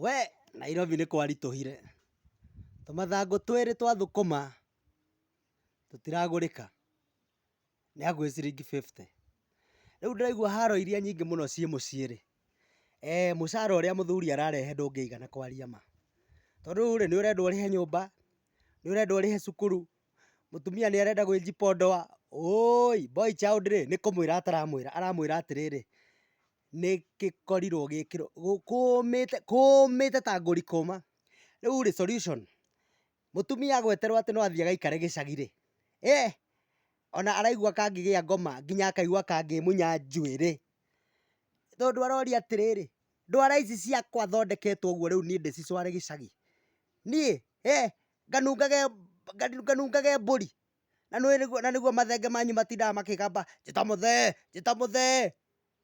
We! Nairobi nĩ kwaritũhire. Tũmathangũ twĩrĩ twa thũkũma tũtiragũrĩka. Nĩ hakuhĩ ciringi fifty. Rĩu ndĩraigua haro iria nyingĩ mũno ciĩ mũciĩ rĩ, ee mũcara ũrĩa mũthuri ararehe ndũngĩigana kwaria ma. Tondũ rĩu rĩ, nĩ ũrenda ũrĩhe nyũmba, nĩ ũrenda ũrĩhe cukuru, mũtumia nĩ arenda gwĩjipodoa, ũũi! Boy child rĩ, nĩ kũmwĩra ataramwĩra, aramwĩra atĩrĩrĩ, nĩgĩkorirwo gĩkĩro kũũmĩte kũũmĩte ta ngũri kũũma, rĩu rĩ solution mũtumia agweterwo atĩ no athiĩ agaikare gĩcagi rĩ, eeh ona araigua kangĩgĩa ngoma nginya akaigua kangĩmunya njuĩrĩ, tondũ aroria atĩrĩrĩ, ndwara ici ciakwa thondeketwo ũguo rĩu niĩ ndĩcicware gĩcagi, niĩ eeh nganungage nganungage mbũri, na nĩguo mathenge manyu matindaga makĩgamba njĩta mũthee njĩta mũthee.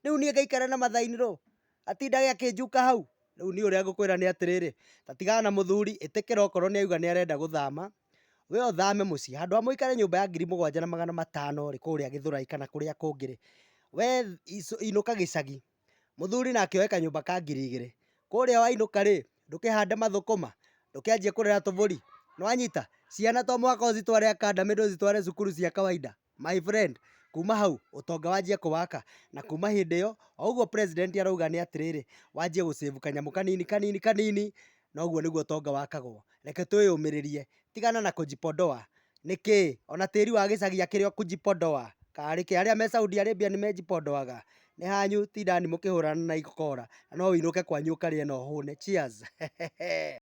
Rĩu niĩ ngaikara na mathaini rũũ? Atindage akĩnjuka hau? Rĩu niĩ ũrĩa ngũkwĩra nĩ atĩrĩrĩ, ta tigana na mũthuri, ĩtĩkĩra okorwo nĩ auga nĩ arenda gũthama, we ũthame mũciĩ. Handũ ha mũikare nyũmba ya ngiri mũgwanja na magana matano rĩ, kũrĩa Gĩthũrai kana kũrĩa kũngĩ rĩ, we inũka gĩcagi. Mũthuri nake oe kanyũmba ka ngiri igĩrĩ. Kũrĩa wainũka rĩ, ndũkĩhande mathũkũma, ndũkĩanjie kũrera tũbũri. Nĩ wanyita? Ciana to mũhaka ũcitware academy ndũcitware cukuru cia kawaida. My friend, kuma hau ũtonga wanjie kũwaka, na kuma hĩndĩ ĩyo, o ũguo president arauga nĩ atĩrĩrĩ, wanjie gũ save kanyamũ kanini kanini kanini, na ũguo nĩguo ũtonga wakagwo. Reke twĩyũmĩrĩrie, tigana na kũjipodoa, nĩkĩ? Ona tĩri wa gĩcagi akĩrĩ o kũjipodoa, karĩ kĩ? Arĩa me Saudi Arabia nĩ mejipodoaga? Nĩ hanyu tindani mũkĩhũrana na ikora, na no ũinũke kwanyu ũkarĩe na ũhũne. Cheers.